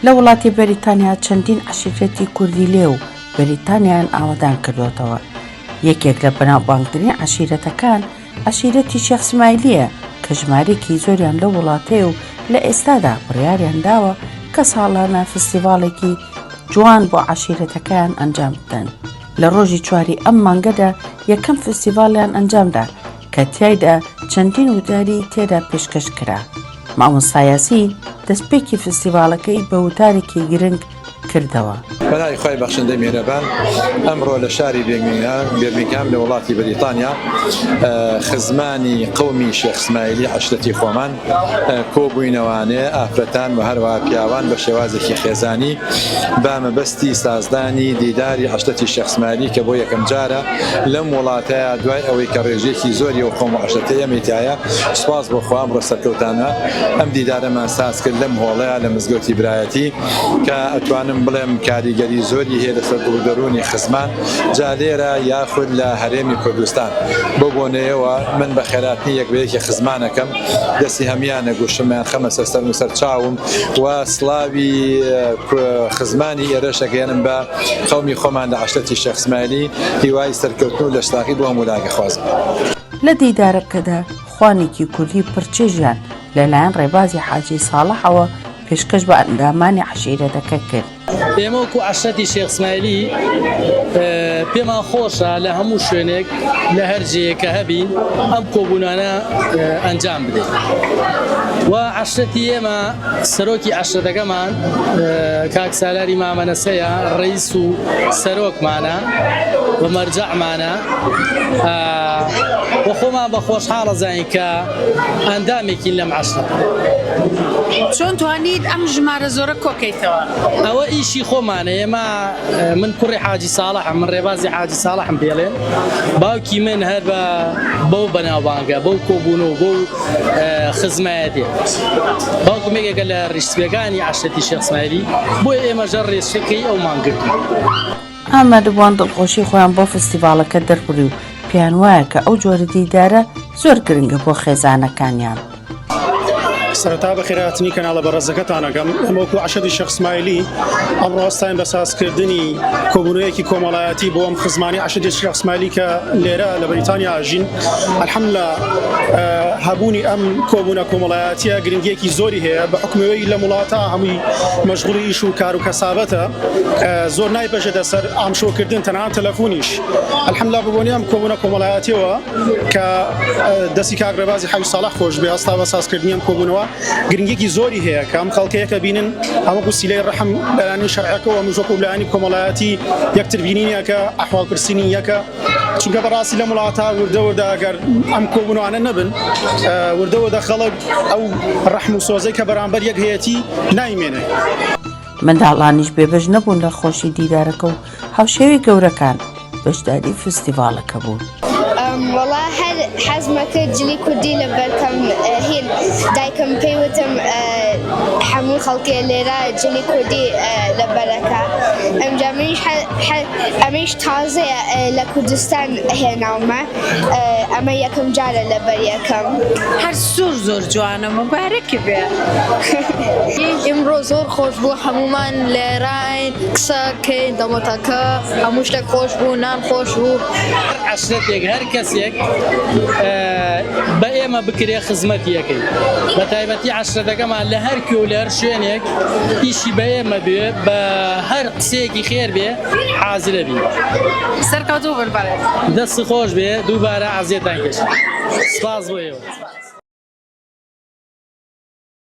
لە وڵاتی بەریتانیا چەندین عەشیرەتی کوردی لێ و بەریتانیایان ئاوەدان کردوەتەوە یەکێک لە بەناوبانگترین عەشیرەتەکان عەشیرەتی شێخ سمایلیە کە ژمارێکی زۆریان لە وڵاتەیە و لە ئێستادا بڕیاریان داوە کە ساڵانە فستیڤاڵێکی جوان بۆ عەشیرەتەکەیان ئەنجام بدەن لە ڕۆژی چواری ئەم مانگەدا یەکەم فستیڤاڵیان ئەنجامدا کە تیایدا چەندین وتاری تێدا پێشکەش کرا، مامۆستا یاسین دەستپێکی فستیڤاڵەکەی بە وتارێکی گرنگ کردەوە. بە ناوی خوای بەخشندەی میهرەبان ئەمڕۆ لە شاری بێرمینگهام لە وڵاتی بەریتانیا خزمانی قەومی شێخ سمایلی عەشرەتی خۆمان، کۆبوینەوانێ ئافرەتان وە هەروەها پیاوان بە شێوازێکی خێزانی بە مەبەستی سازدانی دیداری عەشرەتی شێخ سمایلی کە بۆ یەکەم جارە لەم وڵاتەیا دوای ئەوەی کە ڕێژەیەکی زۆری ئەو قەوم و عەشرەتەی ئێمەی تیایە سوپاس بۆ خوا ئەمڕۆ سەرکەوتانە ئەم دیدارەمان ساز کرد لەم هۆڵەیا لە مزگەوتی برایەتی کە ئەتوانم بڵێم کاریگەری زۆری هەیە لەسەر دڵ و دەرونی خزمان جا لێرە یاخود لە هەرێمی کوردستان. بەو بۆنەیەوە من بە خێراتنی یەک بە یەکی خزمانەکەم، دەستی هەمویانە گوشم یان خەمە سەر سەرم و سەر چاوم و سڵاوی خزمانی ئێرەش ئەگەیەنم بە قەومی خۆمان لە عەشرەتی شێخ سمایلی، هیوای سەرکەوتن و لەشساغی بۆ هەمولا دەخوازم. لە دیدارەکەدا خوانێکی کوردی پڕچێژیان لە لایەن ڕێبازی حاجی ساڵحەوە پێشکەش بە ئەندامانی عەشیرەتەکە کرد. ئێمە وەکو عەشرەتی شێخ ئسمایلی پێمان خۆشە لە هەموو شوێنێک لە هەر جێیەک کە هەبین ئەم کۆبوونانە ئەنجام بدەین و عەشرەتی ئێمە سەرۆکی عەشرەتەکەمان کاک سالاری مامە نەسەیە ڕیس و سەرۆکمانە و مەرجەعمانە و خۆمان بە خۆشحاڵەزانین کە ئەندامێکین لەم عەشرە. چۆن توانیت ئەم ژمارە زۆرە کۆکەیتەوە؟ ئەوە ئیشی خۆمانە ئێمە من کوڕی حاجی ساڵحم من ڕێبازی حاجی ساڵحم پێڵێن باوکی من هەر بە بەو بەناوبانگە بەو کۆبوون و بەو خزمایەتی باوکم یەکێکە لە ڕیشسپیەکانی عەشرەتی شێخ سمایلی بۆیە ئێمەژە ڕێچکەی ئەومان گرتووە. ئامادەبووان دڵخۆشی خۆیان بۆ فستیڤاڵەکە دەربڕی و پێیان وایە کە ئەو جۆرە دیدارە زۆر گرنگە بۆ خێزانەکانیان. سەرەتا بەخێرهاتنی کەناڵە بەڕێزەکەتان ئەکەم. ئێمە وەکو عەشەدی شێخ سمایلی ئەمڕۆ هەستاین بە سازکردنی کۆبوونەوەیەکی کۆمەڵایەتی بۆ ئەم خزمانەی عەشەدی شێخ سمایلی کە لێرە لە بەریتانیا ئەژین. الحمدللە هەبوونی ئەم کۆبوونە کۆمەڵایەتییە گرنگییەکی زۆری هەیە بە حوکمی ئەوەی لەم وڵاتە هەمووی مەشغوڵی ئیش و کار و کەسابەتە. زۆر نایبەژێتە سەر ئامشۆکردن تەنها تەلەفونیش الحمدلله بەبۆنی ئەم کۆبوونە کۆمەڵایەتیەوە کە دەستی کاک ڕێبازی حەوی ساڵح خۆش بێ هەستا بە سازکردنی ئەم کۆبوونەوە گرنگێکی زۆری هەیە کە ئەم خەڵکەیەکە بینن ئەمە گوسیلەی ڕحم لایانی شەرعەکەەوە مژۆک و لایانی کۆمەڵایەتی یەکتر بینینیەکە ئەحواڵ پرسینی یەکە چونکە بەڕاستی لەم وڵاتە وردە وردە گەر ئەم کۆبوونوانە نەبن وردە وردە خەڵک ئەو ڕحم و سۆزەی کە بەرامبەر یەک هەیەتی نایمێنێ. منداڵانیش بێبەش نەبوون لە خۆشی دیدارەکە و هاوشێوەی گەورەکان بەشداری فستیڤاڵەکە بوون. وەڵا هەر حەزمە کرد جلی کوردی لەبەرکەم هین دایکم پێی وتم هەموو خەڵکێ لێرە جلی کوردی لەبەرەکە ئەمجا منیش ئەمیش تازەیە لە کوردستان هێناومە. ئەمە یەکەم جارە لەبەر یەکەم. هەر زۆر زۆر جوانە موبارەکی بێ. ئمڕۆ زۆر خۆش بوو هەموومان لێراین قسە کەین دەمۆتاکە هەموو شتێک خۆش بوو نان خۆش بوو. هەر عەشرەتێک هەر کەسێک بە ئێمە بکرێ خزمەتی ئەکەین بە تایبەتی عەشرەتەکەمان لە هەر کوێ و لە هەر شوێنێک ئیشی بە ئێمە بێ بە هەر قسەیەکی خێر بێ حازرە بی. سەرکەوتوو بن بەڕێز. دەستی خۆش بێ دووبارە ئەزیەتان کێشت سپاس بۆ ئێوە.